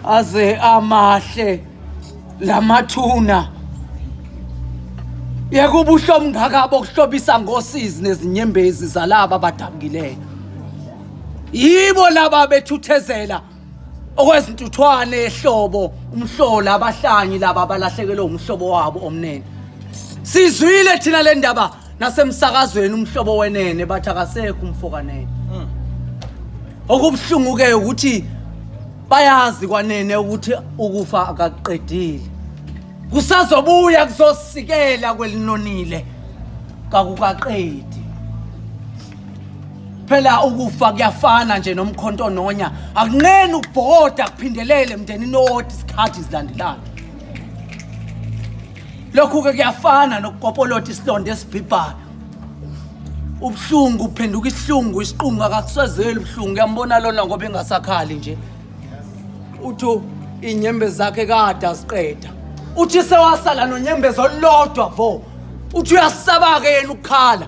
aze amahle lamathuna yeka ubuhlo obungaka bokuhlobisa ngosizi nezinyembezi zalaba abadabukileyo yibo laba bethuthezela okwezintuthwane ehlobo umhlola abahlanyi laba abalahlekelwe umhlobo wabo omnene sizwile thina le ndaba nasemsakazweni umhlobo wenene bathi akasekho umfokanene hmm. okubuhlungu-ke ukuthi bayazi kwanene ukuthi ukufa akakuqedile kusazobuya kuzosikela kwelinonile kakukaqedi phela ukufa kuyafana nje nomkhonto nonya akunqeni ubhoda kuphindelele mndeni noti isikhathi zilandelana lokhu-ke kuyafana nokukopolota isilonda esibhibhayo ubuhlungu uphenduka isihlungu isiqungu akakusazeli ubuhlungu uyambona lona ngoba engasakhali nje uthi inyembe zakhe kade aziqeda uthi sewasala nonyembezi olulodwa vo uthi uyasaba-ke yena ukukhala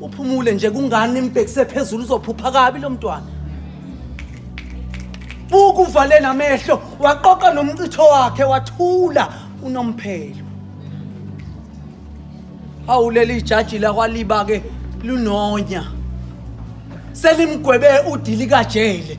uphumule nje kungani imbhekise phezulu uzophupha kabi lo mntwana buka uvale namehlo waqoqa nomcitho wakhe wathula unomphelo hawu leli jaji lakwaliba ke lunonya selimgwebe udili kajele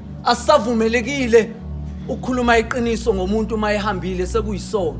Asavumelekile ukukhuluma iqiniso ngomuntu uma ehambile sekuyisono.